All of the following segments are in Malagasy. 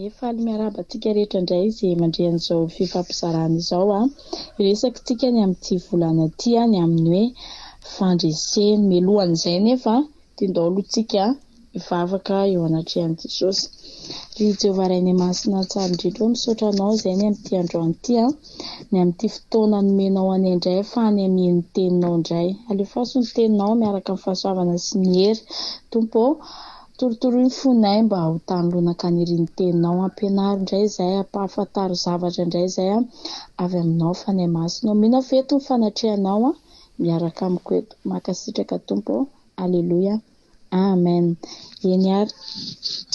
Ee faly miarahaba antsika rehetra indray izay mandre an'izao fifampizarana izao a! Hiresakintsika ny amin'ity volana ity ny amin'ny hoe fandresena. Mialohan'izay anefa dia ndao aloha tsika hivavaka eo anatrehan'i Jesosy. Ry Jehovah Rainay Masina Tsara indrindra ô misaotra Anao izay ny amin'ity androany ity a! Ny amin'ity fotoana nomenao anay indray afahany hameno ny Teninao indray. Alefaso ny Teninao miaraka amin'ny fahasoavana sy ny hery Tompo ô! Torotoroy ny fonay mba ho tany lo nankany ery ny teninao ampianaro indray izay ampahafantaro zavatra indray izay avy aminao fanahy masina ô mino aho fa eto ny fanatrehanao an miaraka amiko eto mankasitraka tompo ô aleloia amen eny ary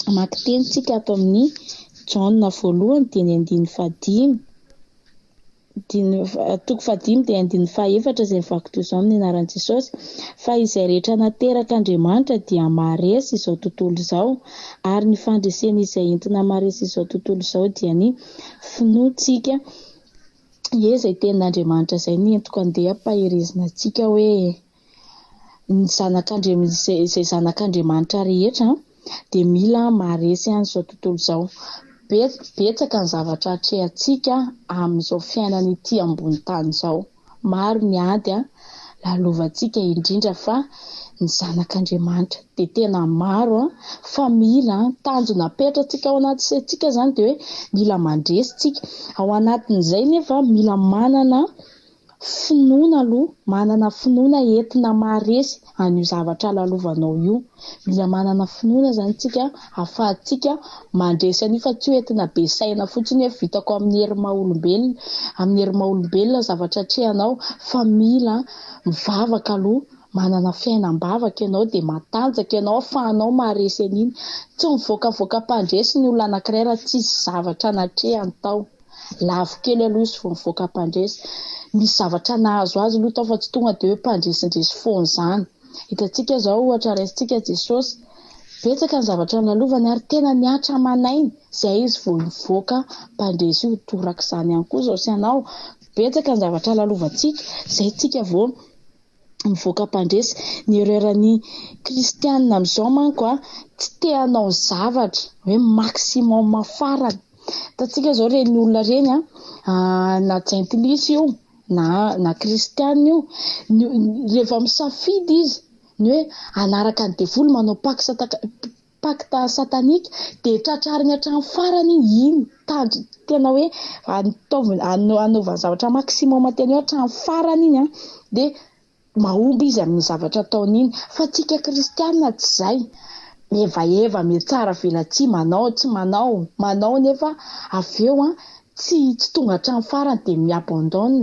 mamaky teny tsika ato amin'ny jaona voalohany dia ny andininy fahadimy Andininy faha, toko fahadimy dia andininy fahaefatra izay vaky toy izao amin'ny anaran'i Jesosy, Fa izay rehetra naterak' Andriamanitra dia maharesy izao tontolo izao, ary ny fandresena izay entina maharesy izao tontolo izao dia ny finoantsika ie izay tenin'Andriamanitra izay ny entoko andeha ampaherezina antsika hoe. Ny zanak'Andriamanitra, izay zanak'Andriamanitra rehetra dia mila maharesy an'izao tontolo izao. Betsaka ny zavatra atrehantsika amin'izao fiainana ity ambony tany izao. Maro ny ady lalovantsika indrindra fa ny zanak'Andriamanitra dia tena maro fa mila tanjona apetratsika ao anaty saintsika izany dia hoe mila mandresy tsika. Ao anatin'izay nefa mila manana Finoana aloha, manana finoana entina maharesy an'io zavatra lalovanao io. Mila manana finoana zany tsika ahafahantsika mandresy an'io fa tsy hoe entina be saina fotsiny hoe vitako amin'ny hery maha olombelona, amin'ny hery maha olombelona ny zavatra atrehanao fa mila mivavaka aloha, manana fiainam-bavaka ianao dia matanjaka ianao ahafahanao maharesy an'iny. Tsy mivoakavoaka am-pandresy ny olona anankiray raha tsisy zavatra natrehany tao. lavo kely aloha izy vao mivoaka mpandresy, misy zavatra nahazo azy aloha tao fa tsy tonga dia hoe mpandresindresy foana izany. Hitantsika izao ohatra raisintsika Jesosy, betsaka ny zavatra nalovany ary tena nihatra aman'aina, izay izy vao hivoaka mpandresy io, torak'izany ihany koa izao sy ianao, betsaka ny zavatra lalovantsika, izay isika vao mivoaka mpandresy. Ny erreur ny kristianina amin'izao manko tsy te hanao zavatra hoe maximum farany. Hitantsika izao ireny olona ireny na jentilisa io na na kristianina io rehefa misafidy izy ny hoe hanaraka ny devoly manao paksa Pacte satanique dia tratrarigny hatramin'ny farany iny tanjony tena hoe ataovy anaovany zavatra maximum tena hoe hatramin'ny farany iny an dia mahomby izy amin'ny zavatra ataony iny fa tsika kristianina tsy zay mihevaheva mihatsara velatsihy manao tsy manao manao nefa avy eo an tsy tsy tonga hatramin'ny farany dia mi abandonne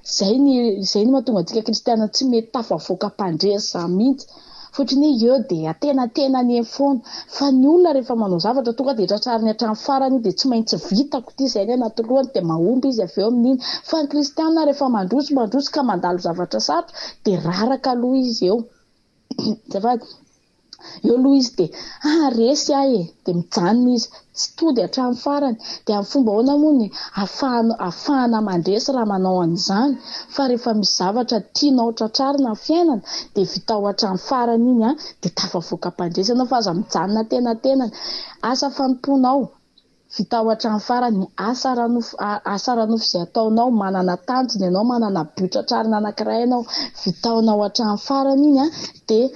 Izay ny izay no mahatonga antsika kristiana tsy mety tafavoaka am-pandrehitra izany mihitsy. Fotry ny eo dia antenatenany eny foana. Fa ny olona rehefa manao zavatra tonga dia tratrariny hatramin'ny farany iny dia tsy maintsy vitako ity izay ny anaty lohany dia mahomby izy avy eo amin'iny. Fa ny kristiana rehefa mandroso mandroso ka mandalo zavatra sarotra dia raraka aloha izy eo. Azafady. Eo aloha izy dia ah resy ahy e, dia mijanona izy, tsy tody hatramin'ny farany. Dia amin'ny fomba ahoana moa ny afahana afahana mandresy raha manao an'izany fa rehefa misy zavatra tianao tratrarina amin'ny fiainana dia vitao hatramin'ny farany iny an, dia tafavoaka am-pandresy ianao fa aza mijanona antenantenany. Asa fanompoana ao Vitao hatrany farany ny asa ara-nofo, asa ara-nofo izay ataonao, manana tanjona ianao, manana but tratrarina anankiray ianao, vitaonao hatrany farany iny an, dia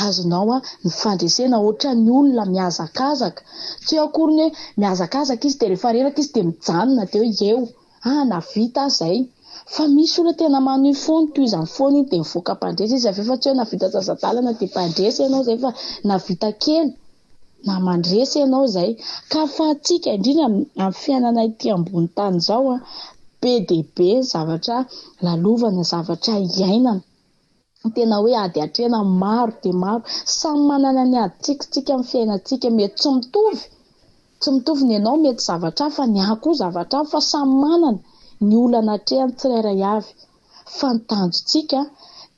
azonao ny fandresena, ohatran'ny olona mihazakazaka, tsy eo akory ny hoe mihazakazaka izy dia rehefa reraka izy dia mijanona dia hoe eo, ah na vita aza izay, fa misy olona tena manohy foana, toy izany foana iny dia mivoaka mpandresy izy avy eo, fa tsy hoe na vita sasa-dalana dia mpandresy ianao izay fa na vita kely. na mandresy ianao izay ka ny fahantsika indrindra amin'ny fiainana ity ambony tany izao be dia be ny zavatra lalovana, zavatra iainana tena hoe ady atrehina maro dia maro, samy manana ny adintsika isika amin'ny fiainantsika, mety tsy mitovy tsy mitovy ny anao mety zavatra hafa, ny ahy koa zavatra hafa fa samy manana ny olana atrehany tsirairay avy. Fa ny tanjontsika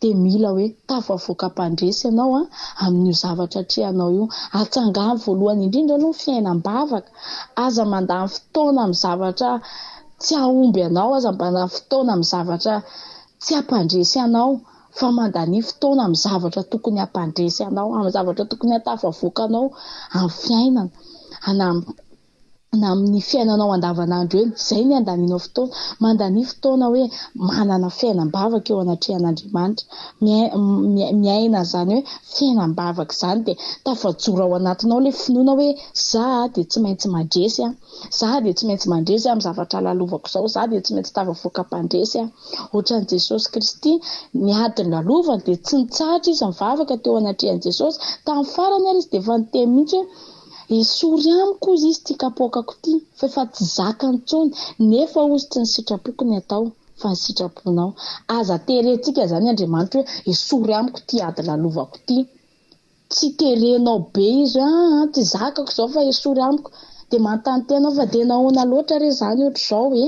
dia mila hoe tafavoaka mpandresy ianao amin'io zavatra atrehanao io. Atsangano voalohany indrindra aloha ny fiainam-bavaka. Aza mandany fotoana amin'ny zavatra tsy hahomby anao, aza mandany fotoana amin'ny zavatra tsy hampandresy anao fa mandania fotoana amin'ny zavatra tokony hampandresy anao, amin'ny zavatra tokony hahatafavoaka anao amin'ny fiainana. Hanam-. na amin'ny fiainanao andavanandro eny, izay ny andanianao fotoana. Mandania fotoana hoe manana fiainam-bavaka eo anatrehan'Andriamanitra. Miaina an'izany hoe fiainam-bavaka izany dia tafajoro ao anatinao ilay finoana hoe za dia tsy maintsy mandresy aho, za dia tsy maintsy mandresy amin'ny zavatra lalovako izao, za dia tsy maintsy tafavoaka mpandresy aho. Ohatran'i Jesosy Kristy, ny ady nolavovany dia tsy nitsahatra izy nivavaka teo anatrehan'i Jesosy. Tamin'ny farany ary izy dia efa niteny mihitsy hoe. Esory amiko ozy izy ty kapoakako ty fa efa tsy zakany intsony nefa ozy tsy ny sitrapoko ny atao fa ny sitraponao. Aza terentsika zany Andriamanitra hoe esory amiko ty ady lalovako ty. Tsy terenao be izy hoe aa tsy zakako zao fa esory amiko. De manontany tena aho fa de nahoana loatra re zany otrzao e?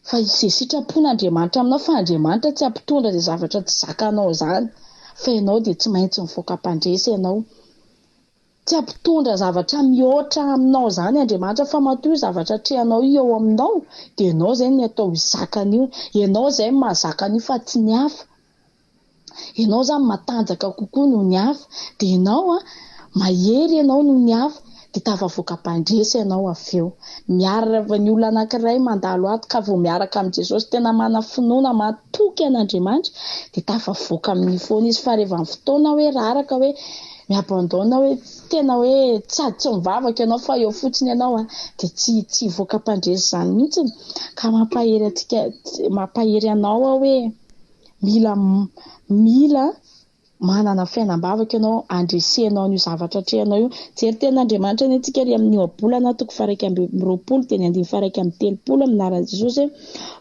Fa izay sitrapon'Andriamanitra aminao fa Andriamanitra tsy hampitondra izay zavatra tsy zakanao izany fa ianao dia tsy maintsy mivoaka mpandresy ianao. Tsy hampitondra zavatra mihoatra aminao izany Andriamanitra fa matoa io zavatra atrehanao io eo aminao dia ianao izay ny atao hizaka an'io. Ianao izay mahazaka an'io fa tsy ny hafa. ianao zany matanjaka kokoa noho ny hafa dia ianao mahery ianao noho ny hafa dia tafavoaka mpandresy ianao avy eo. Miarrava ny olona anankiray mandalo ato ka vao miaraka amin'i Jesosy tena manana finoana matoky an'Andriamanitra dia tafavoaka amin'io foana izy fa reva ny fotoana hoe raraka hoe mi-abandonne hoe tena hoe sady tsy mivavaka ianao fa eo fotsiny ianao dia tsy tsy hivoaka mpandresy izany mihitsy ka mampahery antsika mampahery anao aho hoe Mila mila manana fiainam-bavaka ianao handresenao an'io zavatra atrehinao io. Jery tenin'Andriamanitra anie tsika ry amin'ny ohabolana toko faha-iraika amby roapolo teny andininy faha-iraika amby telopolo amin'ny anaran'i Jesosy hoe,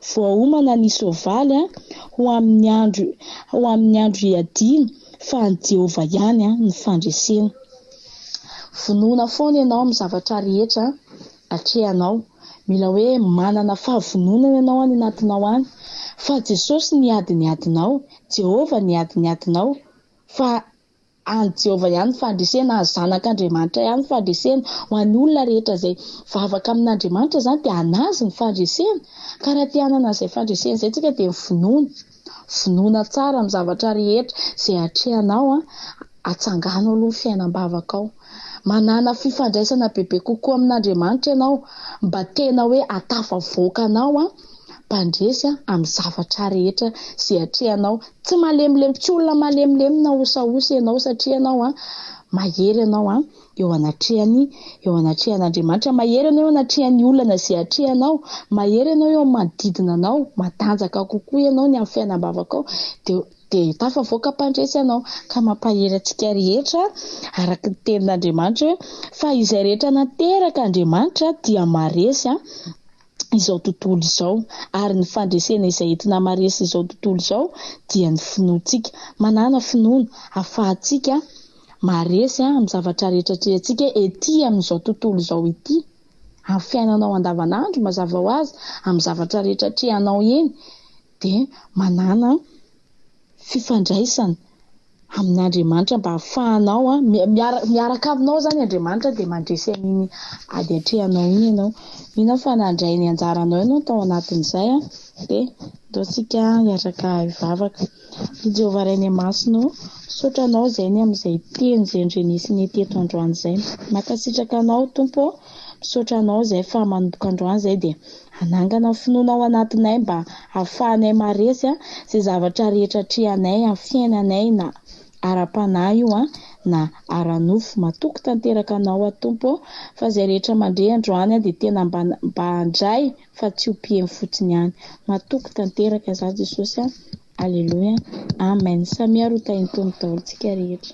Voaomana ny soavaly an, ho amin'ny andro ho amin'ny andro hiadiana fa an'i Jehovah ihany an, ny fandresena. Vonoina foana ianao amin'ny zavatra rehetra Atrehanao, mila hoe manana fahavononana ianao any anatinao any, fa Jesosy niady ny adinao, Jehovah niady ny adinao, fa an'i Jehovah ihany ny fandresena, an'ny Zanak'Andriamanitra ihany ny fandresena, ho an'ny olona rehetra izay vavaka amin'Andriamanitra izany dia an'Azy ny fandresena, ka raha te-hanana an'izay fandresena izay isika dia mivonono. Vonoina tsara ny zavatra rehetra izay atrehanao atsangano aloha ny fiainam-bavakao. Manàna fifandraisana bebe kokoa amin'Andriamanitra ianao mba tena hoe hahatafavoaka anao mpandresy amin'ny zavatra rehetra izay atrehanao. Tsy malemilemy, tsy olona malemilemy na osaosa ianao satria ianao mahery ianao. eo anatrehany, eo anatrehan'Andriamanitra, mahery ianao eo anatrehan'ny olana izay atrehanao, mahery ianao eo amin'ny manodidina anao, matanjaka kokoa ianao ny amin'ny fiainam-bavakao, dia dia tafavoaka mpandresy anao, ka mampahery antsika rehetra araka ny tenin'Andriamanitra hoe, fa izay rehetra nateraka Andriamanitra dia maharesy an. izao tontolo izao, ary ny fandresena izay entina hamaresy izao tontolo izao dia ny finoantsika. Manàna finoana ahafahantsika maharesy amin'ny zavatra rehetra atrehantsika etỳ amin'izao tontolo izao etỳ, amin'ny fiainanao andavanandro, mazava ho azy, amin'ny zavatra rehetra atrehanao eny, dia manàna fifandraisana. amin'Andriamanitra mba hahafahanao miaraka aminao izany Andriamanitra dia mandresy an'iny ady atrehanao iny ianao. Mino aho fa nandray ny anjaranao ianao tao anatin'izay dia andao tsika hiaraka hivavaka. Ry Jehovah Ray ny Masina ô, misaotra anao izay ny amin'izay teny izay nodrenesy ny teto androany izay. Mankasitraka anao Tompo ô, Misaotra anao izay fa manomboka androany izay dia hanangana finoana ao anatinay mba hahafahanay maharesy izay zavatra rehetra atrehanay amin'ny fiainanay na ara-panahy io na ara-nofo. Matoky tanteraka anao aho Tompo ô fa izay rehetra mandre androany aho dia tena mba mba handray fa tsy ho mpiheno fotsiny ihany. Matoky tanteraka izaho Jesosy a. Aleloia. Amen. Samia ary ho tahin'ny Tompo daholo tsika rehetra.